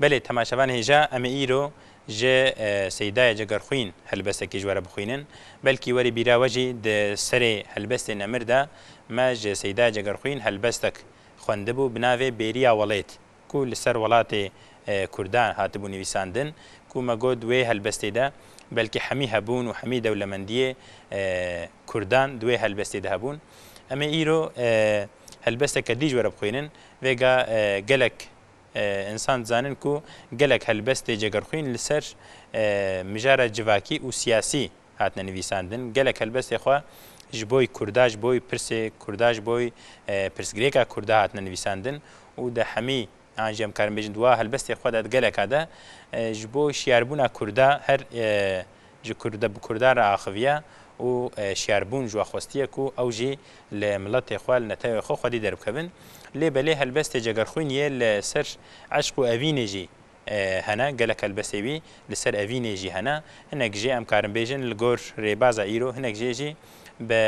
Belê temaşevan hêja em ê îro ji Seydayê Cegerxwîn helbestekî ji we re bixwînin. Belkî werî bîra we jî di serê helbestê Nemir de me ji Seydayê Cegerxwîn helbestek xwendibû bi navê Bêriya Welêt ku li ser welatê Kurdan hatibû nivîsandin ku me got wê helbestê de belkî hemî hebûn û hemî dewlemendiyê Kurdan di wê helbestê de hebûn. Em ê îro helbesteke dî ji we re bixwînin. Vêga gelek Însan dizanin ku gelek helbest ê cegerxwîn li ser mijara civakî û siyasî hatine nivîsandin. Gelek helbestê xwe ji boy Kurda, ji boy pirsê Kurda, ji boy pirsgirêka Kurda hatine nivîsandin û di hemî an jî em karin bêjin di wa helbestê xwe de di geleka de ji bo şiyarbûna Kurda her ji Kurd bi Kurdan re axiviye û şiyarbûn ji we xwestiye ku ew jî li miletê xwe, li netewê xwe xwedî derbikevin. Lê belê helbestê cegerxwîn yê li ser eşq û evînê jî hene, gelek helbestê wî li ser evînê jî hene. Hinek jê em karin bêjin li gor rêbaza îro, hinek jê jî bi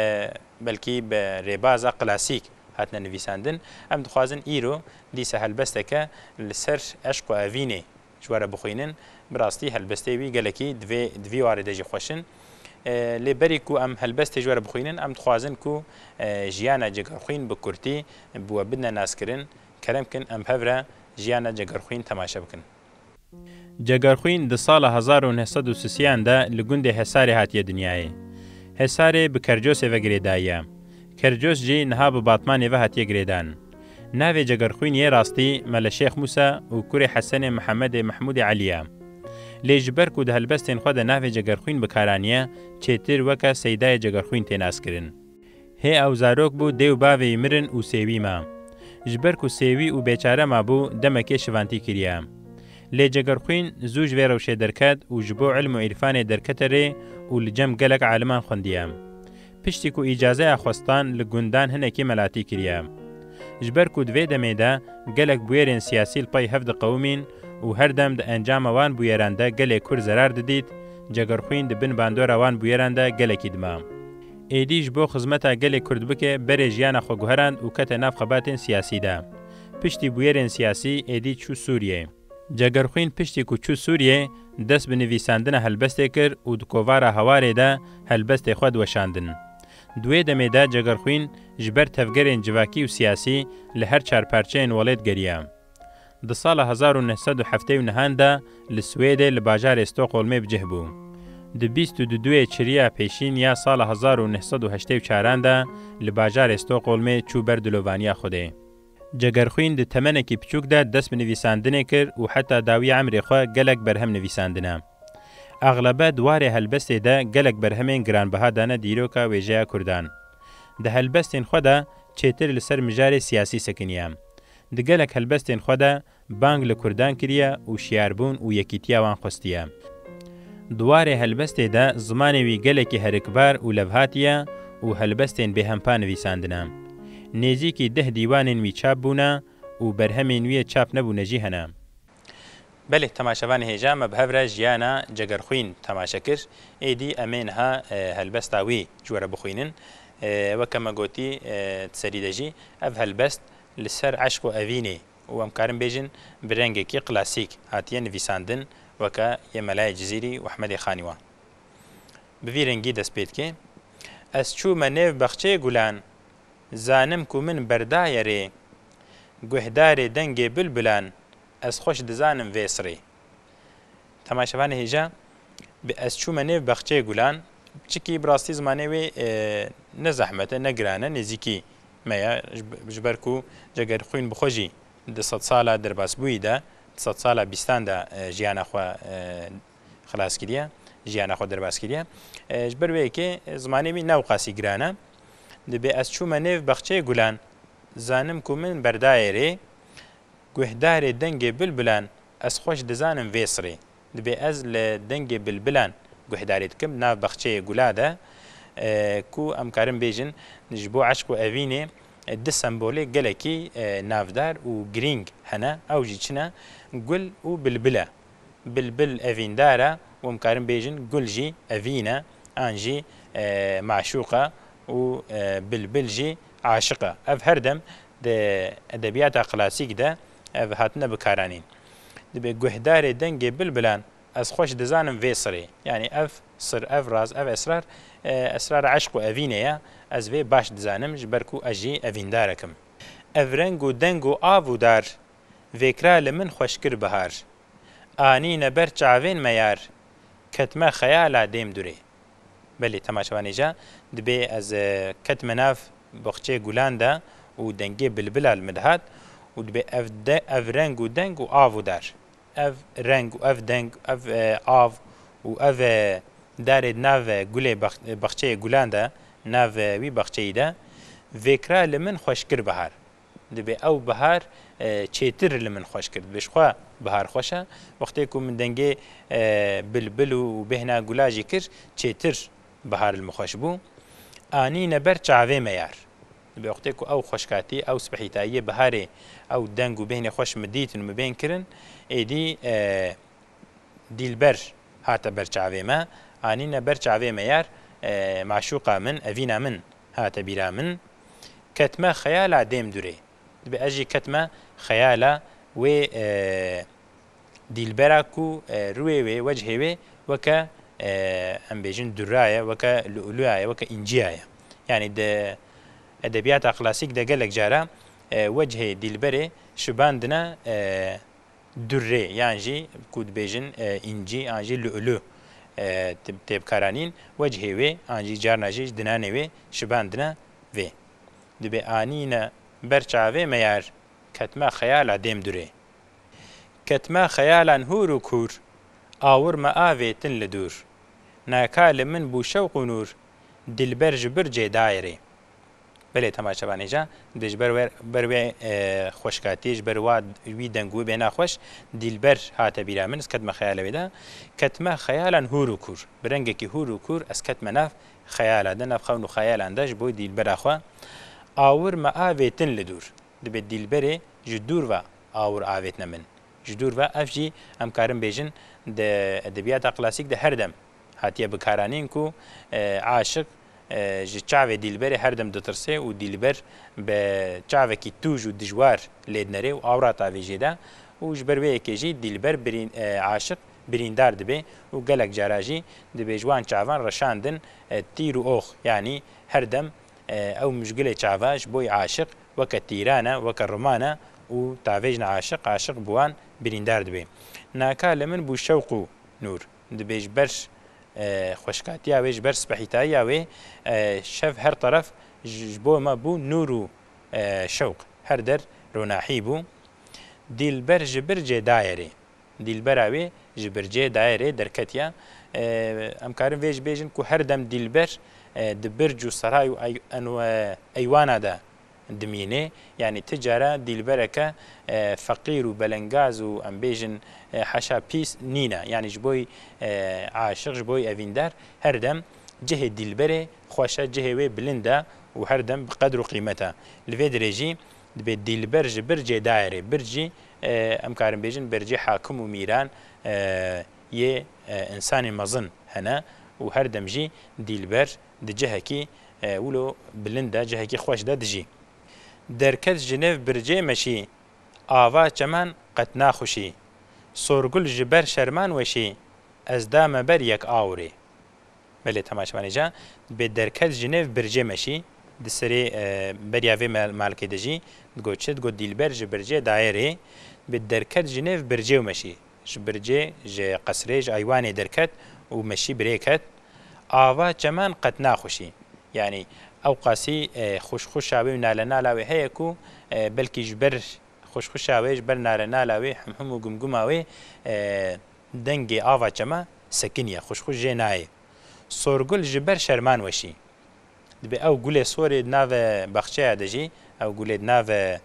belkî bi rêbaza klasîk hatine nivîsandin. Em dixwazin îro dîsa helbesteke li ser eşq û evînê Ji were bixwînin, bi rastî helbestê wî gelekî divê di vî warê de jî xweş in. Lê berî ku em helbestê ji were bixwînin, em dixwazin ku jiyana Cegerxwîn bi kurtî bi we bidne naskirin, kerem kin em bi hev re jiyana Cegerxwîn temaşe bikin. Cegerxwîn di sala hezar û neh sed û sisêyan de li gundê Hesarê hatiye dinyayê. Hesarê bi Kercosê ve girêdayiye. Kercûs jî niha bi Batmanê ve hatiye girêdan. Navê Cegerxwîn yê rastî Mele Şêx Mûsa û kurê Hesenê Mihemedê Mehmûdê Elî ye. Lê ji ber ku di helbestên xwe de navê Cegerxwîn bi kar aniye, çêtir weke Seydayê Cegerxwîn tê naskirin. Hê ew zarok bû dê û bavê wî mirin û sêwî ma. Ji ber ku sêwî û bêçare mabû demekê şivantî kiriye. Lê Cegerxwîn zû ji vê rewşê derket û ji bo îlm û îrfanê derkete rê û li cem gelek aliman xwendiye. Piştî ku îcazeya xwestan li gundan hinekî melatî kiriye. Ji ber ku di vê demê de gelek bûyerên siyasî li pey hev diqewimîn û her dem di encama wan bûyeran de gelê Kurd zerar didît, Cegerxwîn di bin bandora wan bûyeran de gelekî dima. Êdî ji bo xizmeta gelê Kurd bike berê jiyana xwe guherand û kete nav xebatên siyasî de. Piştî bûyerên siyasî êdî çû Sûriyê. Cegerxwîn piştî ku çû Sûriyê, dest bi nivîsandina helbestê kir û di kovara Hawarê de helbestê xwe diweşandin. Di wê demê de Cegerxwîn ji ber tevgerên civakî û siyasî li her çar parçeyên welêt geriya. Di sala hezar û neh sed û heftê û nehan de li Swêdê li bajarê Stockholmê bi cih bû. Di bîst û du duê çiriya pêşîn ya sala hezar û neh sed û heştê û çaran de li bajarê Stockholmê çû ber dilovaniya Xwedê. Cegerxwîn di temenekî piçûk de dest bi nivîsandinê kir û heta dawî emrê xwe gelek berhem nivîsandine. Exlebe di warê helbestê de gelek berhemên giranbiha dane dîroka wêjeya kurdan. Di helbestên xwe de çêtir li ser mijarê siyasî sekiniye. Di gelek helbestên xwe de Bang li Kurdan kiriye û şiyarbûn û yekîtiya wan xwestiye. Di warê helbestê de zimanê wî gelekî herikbar û levhatiye û helbestên bêhempa nivîsandine. Nêzîkî deh dîwanên wî çap bûne û berhemên wî yê çap nebûne jî hene. Belê temaşevanê hêja me bi hev re jiyana Cegerxwîn temaşe kir. Êdî em ê niha helbesta wî ji we re bixwînin. Weke me gotî di serî de jî ev helbest li ser eşq û evînê û em karin bêjin bi rengekî klasîk hatiye nivîsandin weke yê Melayê Cizîrî û Hemedê Xanî wan. Bi vî rengî dest pê dike, Ez çûme nêv baxçeyê gulan, zanim ku min berdaye rê, Guhdarê dengê bilbilan, ez xweş dizanim vê sirê. Temay Şevanê hêja, Bi ez çûme nêv Baxçeyê Gulan, çikî bi rastî zimanê wê ne zehmet e, ne giran e, nêzîkî me ye, ji ber ku cih ger xwîn bi xwe jî di sed sala derbasbûyî de, di sed sala bîstan de jiyana xwe xilas kiriye, jiyana xwe derbas kiriye. Ji ber wê yekê zimanê wî ne qasî giran e. Di Bi ez çûme nêv Baxçeyê Gulan, zanim ku min berdayê rê, Guhdarê dengê bilbilan Ez xweş dizanim vê sirê dibê ez li dengê bilbilan guhdarî dikim nav baxçeyê gula de ku em karin bêjin ji bo eşq û evînê du sembolê gelekî navdar û girîng hene ew jî çi ne gul û bilbil e. Bilbil evîndar e û em karin bêjin gul jî evîn e an jî maşûq e û bilbil jî aşiq e. Ev her dem Di edebiyata klasîk de ev hatine bikaranîn. Dibe guhdarê dengê bilbilan Ez xweş dizanim vê sirê. Yanî ev sir, ev raz, ev esrar, esrara eşq û evînê ye. Ez vê baş dizanim ji ber ku ez jî evîndarek im. Ev reng û deng û av û dar Vêkra li min xweş kir bihar. Anîne ber çavên me yar Ketime xeyala dêm durê. Belê tema şeva nêja dibê ez ketime nav baxçeyê gulan de û dengê bilbila li min dihat û dibê ev ev reng û deng û av û dar ev reng û ev deng ev av û ev darê di nav gulê baxçeyê gulan de nav wî baxçeyî de vêkira li min xweşkir bihar. Dibê ew bihar çêtir li min xweş kir. Dibê ji xwe bihar xweş e. Wextê ku min dengê bilbil û bêhna gula jî kir çêtir bihar li min xweş bû. Anîne ber çavê me yar. Dibê wextê ku ew xweşkatî, ew sibehîtayiyê biharê ew deng û bêhnê xweş min dîtin û min bên kirin êdî Dîlber hate ber çavê me. Anîne ber çavê me yar, maşûqa min, evîna min hate bîra min, ketime xeyala dêm dûrê. Dibe ez jî ketime xeyala wê dîlbera ku rûyê wê, wechê wê weke em bêjin dûrra ye, weke lu'lu'a ye, weke înciya ye. Yanî di edebiyata klasîk de gelek cara wechê dîlberê şibandine Durrê yan jî ku dibêjin încî an jî lu'lu' tê bikaranîn, wecihê wê an jî carna jî ji dinanê wê şibandine vê. Dibê anîne ber çavê me yar ketme xeyala dêm durê. Ketme xeyalan hûr û kûr, awir me avê tin li dûr. Naka li min bû şewq û nûr, dilber ji bir cê dayê rê. Belê temaşe van hêja dê ji ber wê xweşkatiyê ji ber wa wî deng wî bêhna xweş Dîlber hate bîra min ez ketime xeyala wê de ketime xeyalan hûr û kûr bi rengekî hûr û kûr ez ketime nav xeyala de nav xewn û xeyalan de ji bo Dîlbera xwe awir me avêtin li dûr dibê Dîlberê ji dûr ve awir avêtine min ji dûr ve ev jî em karin bêjin di edebiyata klasîk de her dem Hatiye bikaranîn ku aşiq ji çavê dîlberê her dem ditirsê û dîlber bi çavekî tûj û dijwar lê dinere û awrata vê jê de û ji ber wê yekê jî dîlber aşiq birîndar dibe û gelek cara jî dibê ji wan çavan reşandin tîr û ox yanî her dem ew mijgilê çava ji bo wî aşiq weke tîran e weke riman e û tavêjina aşiq aşiq bi wan birîndar dibe. Naka li min bû şewq û nûr. Dibê ji ber xweşkatiya wê, ji ber spehîtayiya wê şev her teref ji bo me bû nûr û şewq. Her der ronahî bû. Dîlber ji bir cê dayê rê. Dîlbera wê ji bir cê dayê rê derketiye. Em karin vê jî bêjin ku her dem dîlber di birc û seray û eywana de Dimîne, yanî ti cara dîlbereke feqîr û belengaz û em bêjin heşa pîs nîne, yanî ji bo aşiq, ji bo evîndar her dem cihê dîlberê xweş e, cihê wê bilind e û her dem bi qedr û qîmet e. Li vê dirê jî dibê dîlber ji bir cê dairê, bir cî em karin bêjin bercê hakim û mîran yê însanê mezin hene û her dem jî dîlber di cihekî wilo bilind de, cihekî xweş de dijî. Derket ji nêv bircê meşî, ava çemen qet naxuşî. Sorgul ji ber şerman weşî, ez da me ber yek awirê. Belê temaşevanê ca dibê derket ji nêv bircê meşî, di serê beriya vê malkê dijî, digot çi? Digot dîlber ji bircê daye rê, dibê derket ji nêv bircê û meşî. Ji bircê ji qesrê ji eywanê derket û meşî birê ket. Ava çemen qet naxuşî. Yanî ewqasî xuşxuşa wê û nalenala wê heye ku belkî ji ber xuşxuşa wê, ji ber nalenala wê, himhim û gimgima wê dengê ava çeme sekiniye, xuşxuş jê nayê. Sorgul ji ber şerman weşî. Dibe ew gulê sorê di nave baxçeya de jî, ew gulê di nave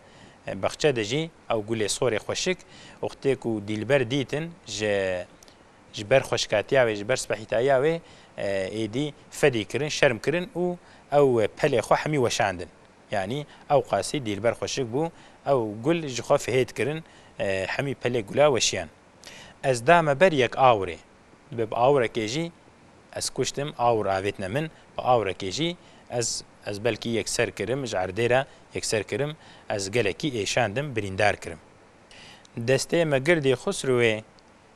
baxçe de jî, ew gulê sorê xweşik, wextê ku dîlber dîtin ji ji ber xweşikatiya wê, ji ber sibehîtayiya wê êdî fedî kirin, şerm kirin û ew pelê xwe hemî weşandin. Yanî ew qasî dîlber xweşik bû, ew gul ji xwe fihêt kirin, hemî pelê gula weşiyan. Ez da me ber yek awirê, Bi awirekê jî ez kuştim, awir avêtine min, bi awirekê jî ez ez belkî yekser kirim, ji erdê re yekser kirim, ez gelekî êşandim, birîndar kirim. Destê me girdî Xusrûwê,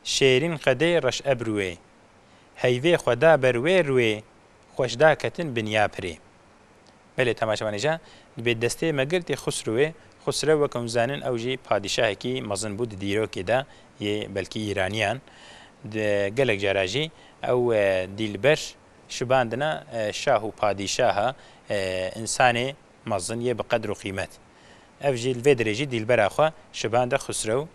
şêrîn qedê reş ebrûwê. Heyvê xwe da ber wê rûwê, xweş da ketin binya pirê. Belê temaşevanêja dibê destê me girtê Xusrewê, Xusrew wek hûn zanin ew jî padîşahekî mezin bû di dîrokê de yê belkî Îraniyan. Di gelek cara jî ew dîlber şibandina şah û padîşaha însanê mezin yê bi qedr û qîmet. Ev jî li vê derê jî dîlbera xwe şibande Xusrew.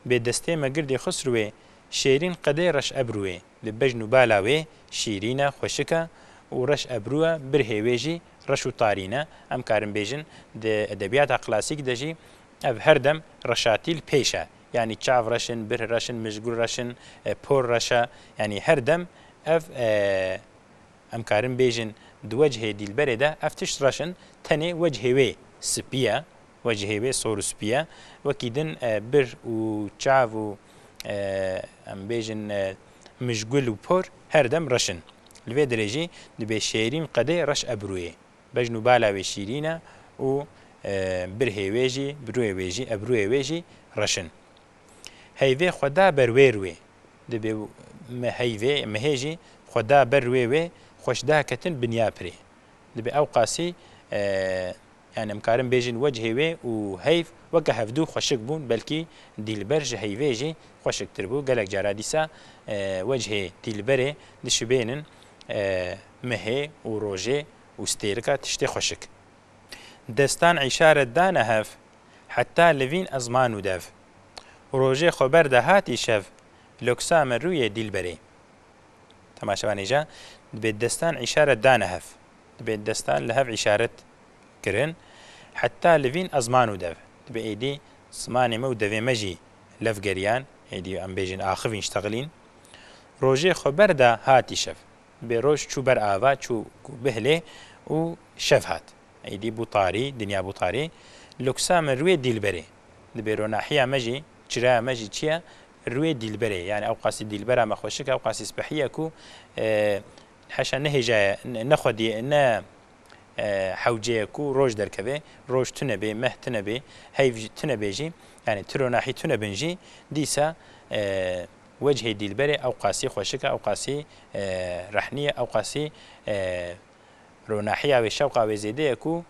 Bê destê me girtê Xusrewê, şêrîn qedê reş ebrûyê. Li bejn û bala wê şîrîn e, xweşik e û reş ebrû e, birhê wê jî reş û tarîn e. Em karin bêjin di edebiyata klasîk de jî ev her dem reşatî li pêş e. Yanî çav reş in, birh reş in, mijgul reş in, por reş e. Yanî her dem ev em karin bêjin di wecihê dîlberê de ev tişt reş in, tenê wecihê wê spî ye, wecihê wê sor û spî ye. Wekî din birh û çav û em bêjin mijgul û por her dem reş in. Li vê derê jî dibe şêrîn qedê reş ebrûyê. Bejn û bala wê şîrîn e û birhê wê jî, birûyê wê jî, ebrûyê wê jî reş in. Heyvê xwe da ber wê rûyê. Dibe me heyvê, mehê jî xwe da ber rûyê wê, xweş da ketin binya pirê. Dibe ew qasî Yan em karin bêjin wecihê wê û heyv weke hevdu xweşik bûn belkî Dîlber ji heyvê jî xweşiktir bû. Gelek cara dîsa wecihê Dîlberê dişibênin mehê û rojê û stêrika tiştê xweşik. Destan îşaret dane hev heta li vîn ez manû dev. Rojê xwe ber de hat îşev loksa me rûyê Dîlberê. Temaşevanê ja dibê destan îşaret dane hev. dibê destan li hev îşaret kirin. Heta li vîn ez man û dev. Dibê êdî zimanê me û devê me jî lev geriyan, êdî em bêjin axivîn şteglîn. Rojê xwe ber da hatî şev. Dibê roj çû ber ava, çû ku bihlê û şev hat. Êdî bû tarî, dinya bû tarî. Luksa min rûyê dîlberê. Dibê ronahiya me jî, çiraya me jî çiya rûyê dîlberê. Yanî ewqasî dîlbera me xweşik e, ewqasî spihiya ku Heşa ne hêja ye, ne xwedî ye, ne hewce ye ku roj derkeve, roj tune bê, meh tune bê, heyv tune bê jî, yanî ti ronahî tune bin jî, dîsa wecihê dîlberê ewqasî xweşik e, ewqasî rehnî ye, ewqasî ronahiya wê, şewqa wê zêde ye ku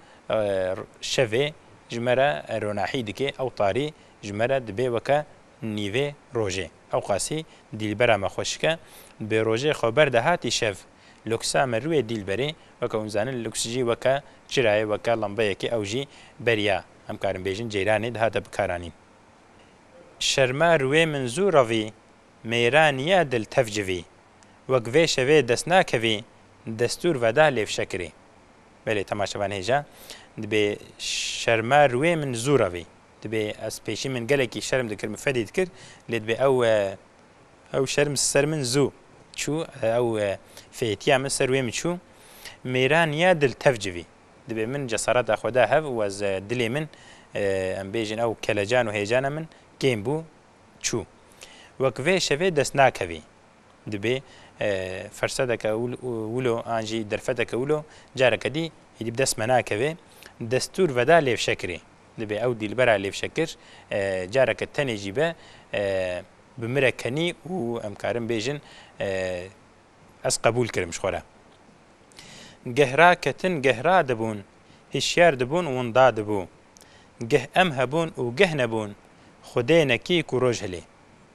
şevê ji me re ronahî dike, ew tarî ji me re dibe weke nîvê rojê. Ewqasî dîlbera me xwe şike. Bi rojê xwe ber de hatî şev. Luksa me rûyê dîlberê weke hûn zanin luks jî weke çirayê, weke lembeyekê ew jî ber ya, em karin bêjin ceyranê dihate bikaranîn. Şerma rûyê min zû revî, mêran ya dil tev civî. Wek vê şevê dest nakevî, destûr veda lê fişe kirî. Belê temaşevan hêja dibê Şerma rûyê min zû revî. Dibê ez pêşî min gelekî şerm dikir min fedî dikir lê dibê ew ew şerm ser min zû çû ew fêtiya min ser wê min çû mêran ya dil tev civî dibê min cesareta xwe da hev û ez dilê min em bêjin ew kelecan û hêjana min kêm bû çû wek vê şevê dest nakevî dibê fersedeke wilo an jî derfeteke wilo careke dî êdî bi dest me nakeve destûr veda lê fşekirê. Dibe ew dîlbera lêvşekir careke tenê jî be bi min re kenî û em karin bêjin ez qebûl kirim ji xwe re. Geh raketin geh radibûn, hişyar dibûn winda dibû. Geh em hebûn û geh nebûn, xwedê nekî ku roj hilê.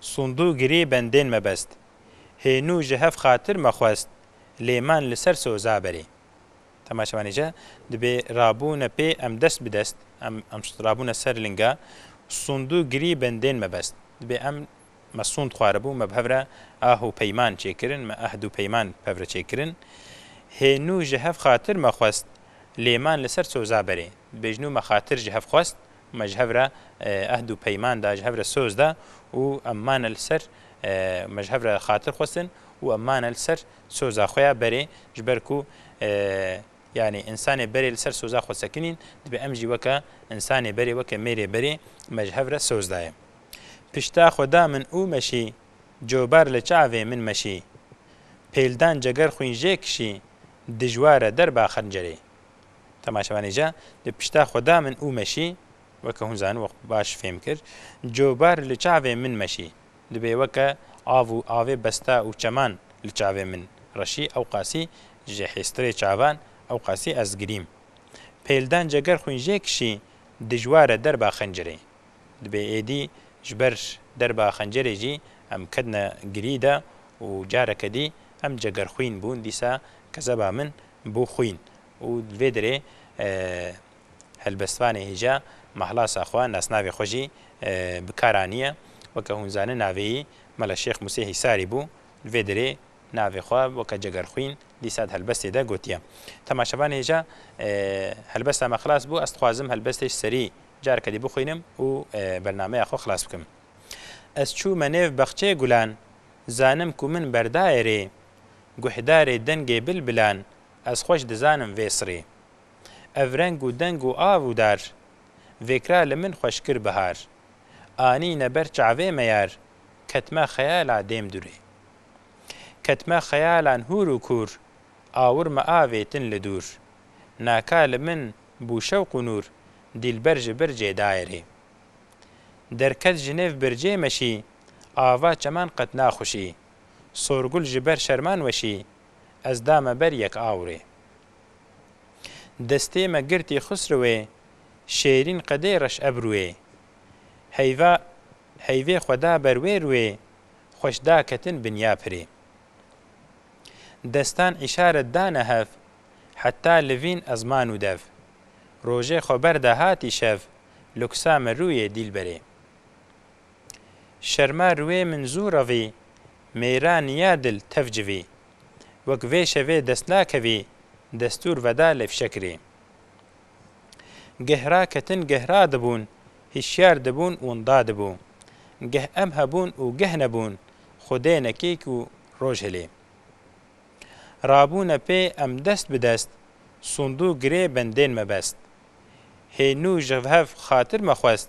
Sundû girê bendên me best. Hênû ji hev xatir me xwest, lê man li ser soza berê. Temaşe van îca dibê rabûne pê em dest bi dest, em em rabûne ser linga Sundû girî bendên me best. Dibê em me sund xwaribû, me bi hev re ah û peyman çêkirin, me ehd û peyman bi hev re çêkirin. Hênû ji hev xatir me xwest, lê man li ser soza berê. Dibê jinû me xatir ji hev xwest, Me ji hev re ehd û peyman da, ji hev re soz da û em mane li ser me ji hev re xatir xwestin û em mane li ser soza xwe ya berê ji ber ku yanî însanê berê li ser soza xwe sekinîn dibê em jî weke însanê berê weke mêrê berê me ji hev re soz daye pişta xwe da min û meşî cobar li çavê min meşî pêldan ceger xwîn jê kişî dijwar e derba xencerê. Temaşevanê jî li pişta xwe da min û meşî, weke hûn zanin wek baş fêm kir, cobar li çavê min meşî, dibê weke av û avê besta û çeman li çavê min reşî, ewqasî ji hêstirê çavan, ewqasî ez girîm. Pêldan ceger xwîn jê kişî, dijwar e derba xencirê. Dibê êdî ji ber derba xencirê jî em ketine girî de û careke dî em cegerxwîn bûn, dîsa kezeba min bû xwîn, û li vê derê helbestvanê hêja mahlasa xwe nasnavê xwe jî bi kar aniye. Weke hûn zanin navêyî Mela Şêx Musê Hîsarî bû. Li vê derê navê xwe weke cegerxwîn dîsa di helbestê de gotiye. Temaşevanê hêja helbesta me xilas bû, ez dixwazim helbestê ji serî careke dî bixwînim û bernameya xwe xilas bikim. Ez çûme nêv baxçeyê gulan, zanim ku min berdayê rê, guhdarê dengê bilbilan, Ez xweş dizanim vê sirê. Ev reng û deng û av û dar. Vêkra li min xweş kir bihar. Anîne ber çavê me yar. Ketime xeyala dêm dûrê. Ketime xeyalan hûr û kûr. Awir me avê tin li dûr. Naka li min bû şewq û nûr. Dîlber ji bircê dayê rê. Derket ji nêv bircê meşî. Ava çeman qet naxuşî. Sorgul ji ber şerman weşî. Ez da me ber yek awrê. Destê me girtî Xusrewê şêrîn qedê reş ebrûyê. Heyva heyvê xwe da ber wê rûyê xweş da ketin binya pirê. Destan îşaret dane hev heta li vîn ez manû dev. Rojê xwe ber da hatî şev luksa me rûyê dîlberê. Şerma riwê min zû revî, mêran ya dil tev civî. Wek vê şevê dest nakevî, destûr veda lê fişekirî. Geh raketin geh radibûn, hişyar dibûn winda dibû. Geh em hebûn û geh nebûn, xwedê nekêk û roj hilî. Rabûne pê em dest bi dest, sûndû girê bendên me best. Hê nû ji hev xatir me xwest,